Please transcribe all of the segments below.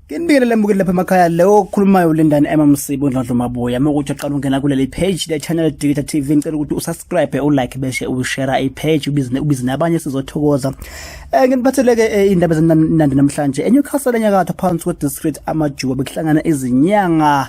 Nginibikele lembukile lapha emakhaya leyo okhulumayo ulindani Emma Msibo Ndlondlo Mabuya uma ukuthi uqala ungena kuleli page le channel Digital TV ngicela ukuthi usubscribe ulike bese ushare i page ubizine ubizine abanye sizothokoza eh nginiphatheleke eh, indaba ezinandi namhlanje eNewcastle enyakatho phansi kwe district amajuba bekuhlangana izinyanga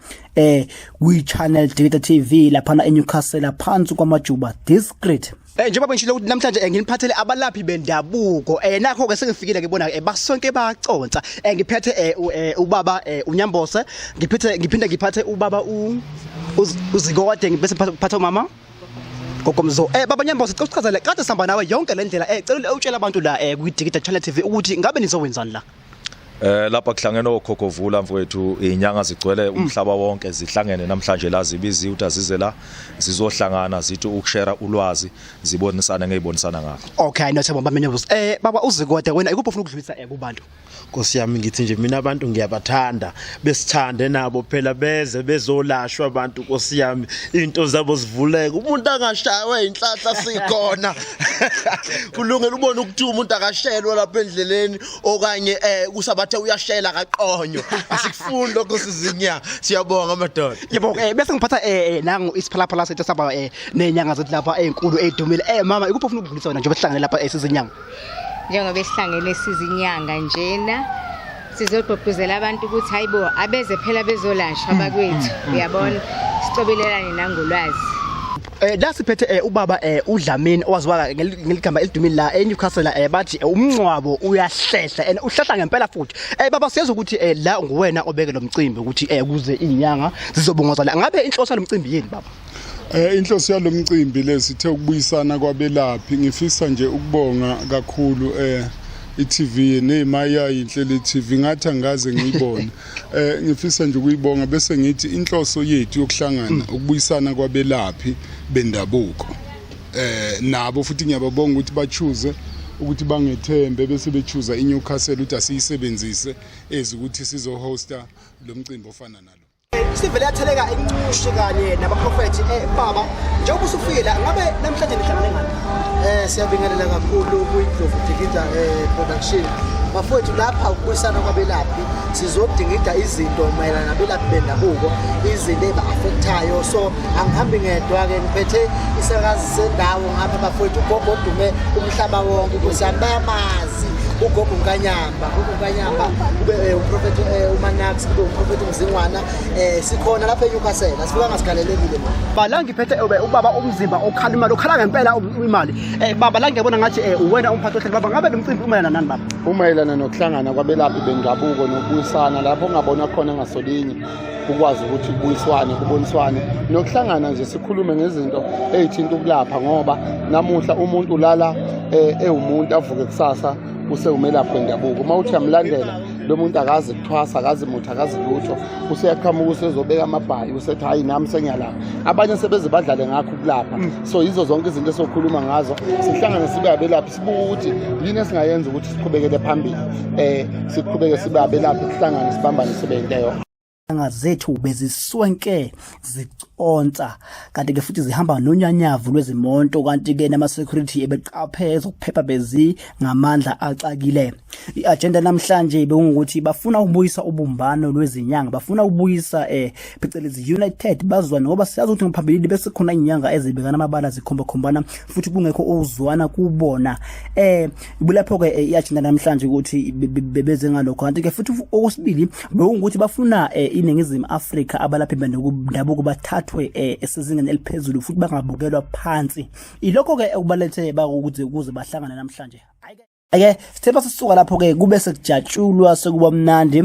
eh kwi channel Data TV lapha na eNewcastle phansi kwamajuba discreet Eh njengoba bengishilo ukuthi namhlanje eh, nginiphathele abalaphi bendabuko eh nakho ke sengifikile ngibona ke eh, basonke baconsa eh ngiphethe eh, eh ubaba eh, uNyambose ngiphethe ngiphinda ngiphathe ubaba u uzikode ngibese ngiphathe umama Gokomzo eh baba Nyambose cela uchazele kade sihamba nawe yonke le ndlela eh cela utshela abantu la eh kwi Digital Channel TV ukuthi ngabe nizowenzani la Eh lapha kuhlangene okhokhovula mfowethu inyanga zigcwele mm. umhlaba wonke zihlangene namhlanje la zibizi ukuthi azize la zizohlangana zithi ukushare ulwazi zibonisane ngezibonisana ngakho. Okay no themba bamenye buzo. Eh baba uzikode wena ikuphi ufuna ukudlulisa eh kubantu? Nkosi yami ngithi nje mina abantu ngiyabathanda besithande nabo phela beze bezolashwa abantu Nkosi yami into zabo zivuleke umuntu angashaywa inhlahla sikhona. Kulungela ubona ukuthi umuntu akashelwa lapha endleleni okanye eh kusabathe uyashela kaqonyo asikufuni lokho sizinya siyabonga madoda yebo eh bese ngiphatha eh, eh nangu isiphalaphala sethu saba eh nenyanga zethu lapha ezinkulu eh, ezidumile eh mama ikuphi ofuna ukudlulisa wena njengoba sihlangene lapha esizinyanga eh, njengoba sihlangene sizinyanga njena sizogqugquzela abantu ukuthi hayibo abeze phela bezolashwa mm, bakwethu mm, mm, uyabona sicobelelane nangolwazi Eh la siphethe eh ubaba eh uDlamini owaziwa ngeligama elidumile la eNewcastle eh bathi eh, umncwabo uyahlehla and uhlahla ngempela futhi. Eh baba siyeza ukuthi eh la nguwena obeke lomcimbi ukuthi eh kuze inyanga zizobungoza la. Ngabe inhloso lomcimbi yini baba? Eh inhloso yalomcimbi lesithe ukubuyisana kwabelaphi ngifisa nje ukubonga kakhulu eh iTV neyimayayi inhlelo iTV ngathi angikaze ngiyibone Eh ngifisa nje ukuyibonga bese ngithi inhloso yethu yokuhlangana mm. ukubuyisana kwabelaphi bendabuko. Eh nabo futhi ngiyababonga ukuthi bachuze ukuthi bangethembe bese bechuza iNewcastle ukuthi asiyisebenzise ezi ukuthi sizohosta lo mcimbi ofana nalo. sivele yatheleka incushi kanye nabaprofethi eh, baba njengoba usufile ngabe namhlanje nihlangane ngani eh siyabingelela kakhulu kuyidlovu dikida eh, production bafowethu lapha ukubuyisana kwabelaphi sizodingida izinto mayelana nabelaphi bendabuko izinto eba-afekthayo so angihambi ngedwa-ke ngiphethe isakazi sendawo ngapha bafowethu ugogo odume umhlaba wonke ukuthi ami bayamazi ugogo nkanyamba gogo nkanyamba kube eh, uprofethi eh, umanax kube uprofethi umzingwana um sikhona lapha enyukasela sifika ngasigalelekile ma ba la ngiphethe ubaba umzimba okhala imali okhala ngempela imali um baba la ngiyabona ngathi um uwena umphathi ohleli baba ngabe lo mcimbi umayelana nani baba Umayelana nokuhlangana kwabelaphi bendabuko nokubuyisana lapho ongabona khona ngasolinye ukwazi ukuthi kubuyiswane kuboniswane nokuhlangana nje sikhulume ngezinto eyithinta ukulapha ngoba namuhla umuntu ulala eh, ewumuntu avuke kusasa usewumelaphi wendabuko uma uthi yamlandela lo muntu akazi kuthwasa akazi muthi akazi lutho useyaqhamuka usezobeka amabhayi usethi hhayi nami sengiyalapha abanye sebeze badlale ngakho ukulapha mm. so yizo zonke izinto esokhuluma ngazo sihlangane sibe abelaphi sibuka ukuthi yini esingayenza ukuthi siqhubekele phambili eh siqhubeke sibe abelaphi sihlangane sibambane sibe into eyo anga zethu beziswenke ziconsa kanti ke futhi zihamba nonyanyavu lwezimonto kanti ke nama security ebeqaphe ezokuphepha bezi ngamandla axakile iagenda namhlanje bewungukuthi bafuna ukubuyisa ubumbano lwezinyanga bafuna ukubuyisa eh phecelezi united bazwa ngoba siyazi ukuthi ngaphambilini bese khona inyanga ezibekana amabala zikhomba khombana futhi kungekho ukuzwana kubona eh kulapho ke eh, iyajinda namhlanje ukuthi bebeze ngalokho kanti ke futhi okwesibili bewungukuthi bafuna eh, iningizimu Afrika abalaphi bendabuko bathathwe eh, esizingeni eliphezulu futhi bangabukelwa phansi ilokho ke okubalethe bakuthi ukuze bahlangane namhlanje ake sithe basisuka lapho ke kube sekujatshulwa sekuba mnandi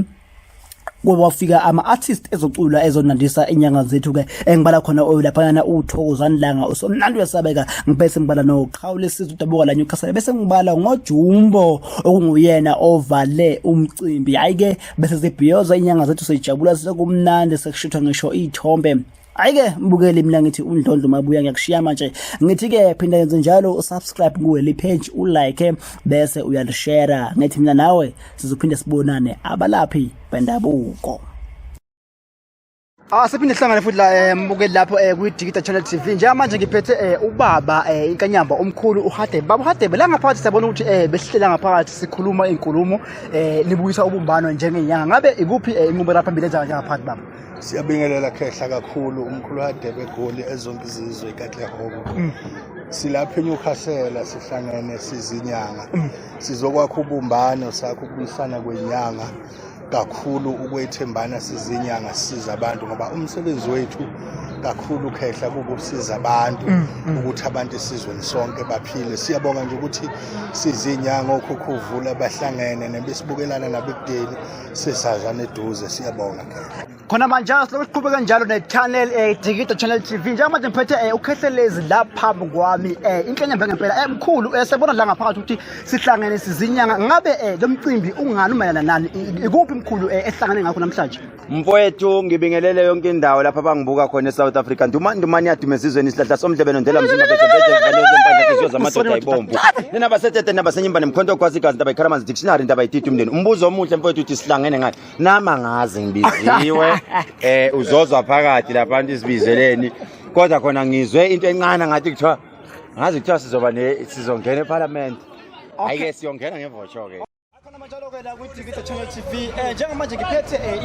kwafika ama-artist ezocula ezonandisa inyanga zethu-ke engibala khona oyulaphayana uthokozani langa usomnandi uyasabeka ngibese ngibala noqhawule siza udabuka la newcastle bese ngibala ngojumbo okunguyena ovale umcimbi hhayi-ke bese zibhiyoza inyanga zethu sejabula sekumnandi sekushithwa ngisho iy'thombe Ayike mbukeli mina ngithi undlondlo mabuya ngiyakushiya manje ngithi ke phinda yenze njalo usubscribe kuwe le page ulike bese uyalishare ngithi mina nawe sizophinde sibonane abalaphi bendabuko Ah siphinde sihlangane futhi la eh, mbukeli lapho eh, kwi Digital Channel TV. Njengamanje ngiphethe eh, ubaba inkanyamba omkhulu uHadebe. Baba uHadebe la ngaphathi siyabona ukuthi besihlela ngaphathi sikhuluma inkulumo nibuyisa ubumbano njengenyanga. Ngabe ikuphi inqubo lapha phambili enza ngaphathi baba? Siyabingelela khehla kakhulu umkhulu hadebe egoli ezonke izizwe ikaTlehobo. Mm. Silapha eNewcastle sihlangene sizinyanga. Mm. Sizokwakha ubumbano sakho ukubuyisana kwenyanga kakhulu ukwethembana sizinyanga siza abantu ngoba umsebenzi wethu kakhulu khehla kukusiza abantu mm, mm. ukuthi abantu esizweni sonke baphile siyabonga nje ukuthi sizinyanga okhukhuvula bahlangene nebesibukelana nabekudeni sisazana eduze siyabonga ke khona manje siloku siqhubeka njalo ne-channel um eh, dikido channel t v njengamanje ngiphethe um eh, ukhehlelezi la phambi kwami um eh, inhlenya mbe ngempela emkhulu um sebona la ngaphakathi ukuthi sihlangene sizinyanga ngabe um lo mcimbi ungani umayelana nani ikuphi mkhulu um esihlangane ngakho namhlanje mfowethu ngibingelele yonke indawo lapho abangibuka khona e-south africa ndumandumane yaduma ezizweni isihlahla somdlebeno ndela mzindabezebezezivalezempandla iziyo zamadoda ibomvu nenabasetete nabasenyimbane mkhonto ogwazi igazi ndaba ikhalamanzi Sinari ndaba yititi umndeni. Umbuzo omuhle mfowethu uthi sihlangene ngani? Nama ngazi ngibiziwe. Eh uzozwa phakathi lapha abantu isibizeleni. Kodwa khona ngizwe into encane ngathi kuthiwa ngazi kuthiwa sizoba ne sizongena eParliament. Ayike siyongena ngevocho ke. Khona manje lokho la kwi-TV Channel TV. Eh njengamanje ngiphethe eh,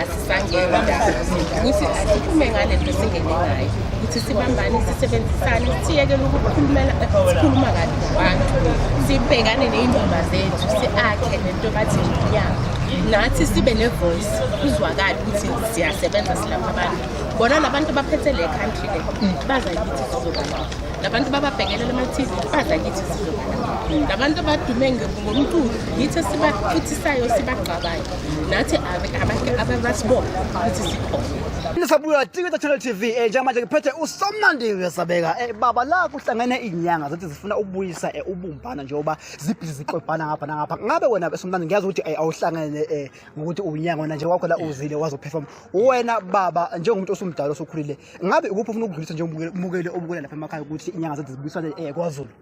asisangeni ukuthi asiphume ngale nto singene ngayo ukuthi sibambane sisebenzisane siyekele ukukhulumela sikhuluma kabi ngabantu sibhekane ney'ndaba zethu si-akhe nento bathi yabo nathi sibe ne-voice kuzwakali ukuthi siyasebenza silapha abantu bona labantu baphethe le country le baza kithi sizobalapha labantu bababhekelela ama-tv baza kithi sizobalapha labantu abadume ngomculo yithi esibafuthisayo sibagqabayo nathi abantu abasibona ukuthi sikhona nisabuya tikita channel tv eh, njengamanje ngiphethe usomnandi uyasabeka eh, baba la kuhlangene inyanga zithi zifuna ukubuyisa eh, ubumbana njengoba zibhizi ziqobhana ngapha nangapha ngabe wena somnandi ngiyazi ukuthi eh, awuhlangene eh, ngokuthi unyanga wena nje wakho la uzile wazoperform wena baba njengomuntu osumdala osokhulile ngabe ukuphi ufuna ukudlulisa njengomukeli obukela lapha emakhaya ukuthi inyanga zithi zibuyisane eh, kwazulu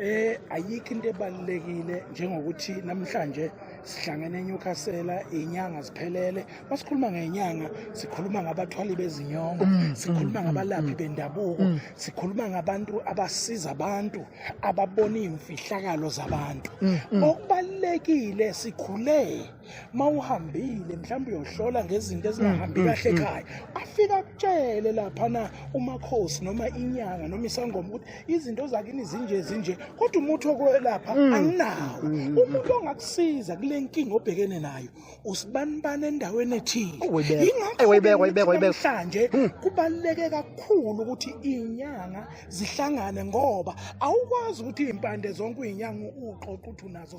Eh ayikho into ebalekile njengokuthi namhlanje sihlangene eNewcastle inyanga ziphelele masikhuluma ngenyanga sikhuluma ngabathwali bezinyongo mm, mm, sikhuluma mm, ngabalaphi bendabuko sikhuluma ngabantu abasiza abantu ababona imfihlakalo zabantu okubalekile sikhule uma uhambile mhlawumbe uyohlola ngezinto ezingahambi mm, mm, kahle mm. ekhaya afike akutshele laphana umakhosi noma inyanga noma isangoma ukuthi izinto zakini zinje zinje kodwa umuthi wokwelapha anginawo umuntu ongakusiza kule nkinga obhekene nayo usibanibani endaweni ethile yingakhohlanje kubaluleke kakhulu ukuthi iy'nyanga zihlangane ngoba awukwazi ukuthi iy'mpande zonke uy'nyanga uqoqa ukuthi unazo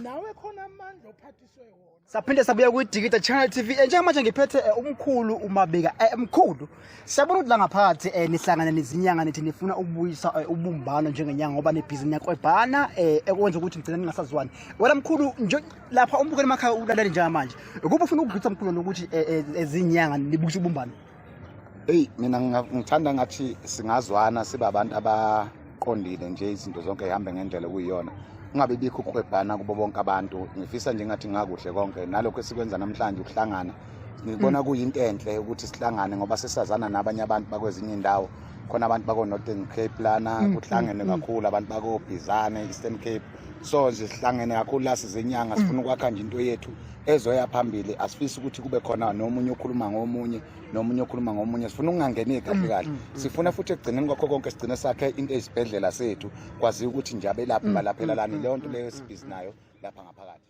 nawe khona amandla ophathiswe wona saphinde sabuya kwidigida channel tv eh, njengamanje ngiphethe eh, umkhulu umabika eh, mkhulu siyabona ukuthi la ngaphakathi um nihlangane nezinyanga nithi nifuna ukubuyisa ubumbano njengenyanga ngoba nebhizinisi yakwebhana um ekwenza ukuthi nigcina ningasazwani wena mkhulu lapha umbukeli emakhaya ulalele njengamanje ukuba ufuna ukudlulisa mkhulu nokuthi ezinyanga nibuyise ubumbano eyi mina ngithanda ngathi singazwana sibe abantu abaqondile nje izinto zonke zihambe ngendlela okuyiyona kungabe bikho ukuhwebhana kubo bonke abantu ngifisa nje ngathi ngakuhle konke nalokho esikwenza namhlanje ukuhlangana ngibona mm. kuyinto enhle ukuthi sihlangane ngoba sesazana nabanye abantu bakwezinye indawo khona abantu bako-northern cape lana mm, kuhlangene mm, mm. kakhulu abantu bakobhizane eastern cape so nje sihlangene kakhulu la sizenyanga sifuna ukwakha nje into yethu ezoya phambili asifisi ukuthi kube khona nomunye okhuluma ngomunye nomunye okhuluma ngomunye sifuna ukungangeni kahle mm, kahle mm, mm. sifuna futhi ekugcineni kwakho konke sigcine sakhe into eyisibhedlela sethu kwaziwa ukuthi nje abelaphi balaphela lani leyo nto leyo esibhizi nayo lapha ngaphakathi